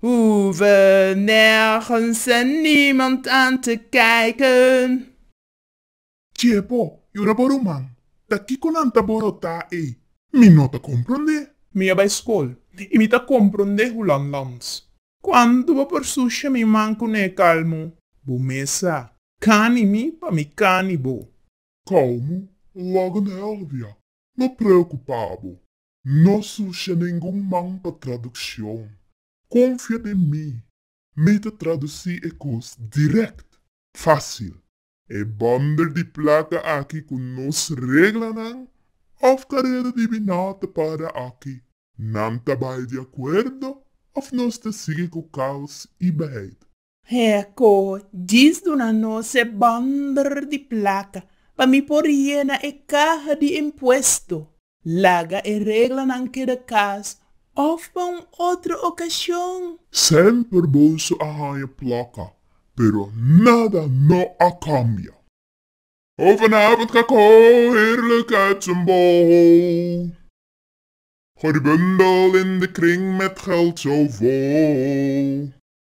Hoeven nergens en niemand aan te kijken. Tjee po, jura por u man, ta kiko nan ta borotá ei? Mi no ta komprondé. Mi a bai skol i mi ta komprondé hoe lan lands. Kuantu bo por susha mi man ku n'e kalmu? Bo mes a. Kani mi pa mi kani bo. Kalmu, logo n'e olvia. No preokupá bo. No sucia ningun man pa traduccion. Confia den mi. Mi ta traduci e cos direct. Facil. E bundel di placa aki cu nos reglanan of careda di bina ta para aki. Nan ta bay di acuerdo of nos ta sigui cu caos y beheid. Heko, djis duna nos e bundel di plaka pa mi por yena e kaha di impuesto. Laga e reglanan keda kas of pa un otro okashon. Semper boso a haña plaka, pero nada no a kambia. Ho vanavond ka ko heerlijk uit zijn bol. Ho die bundel in de kring met geld zo vol.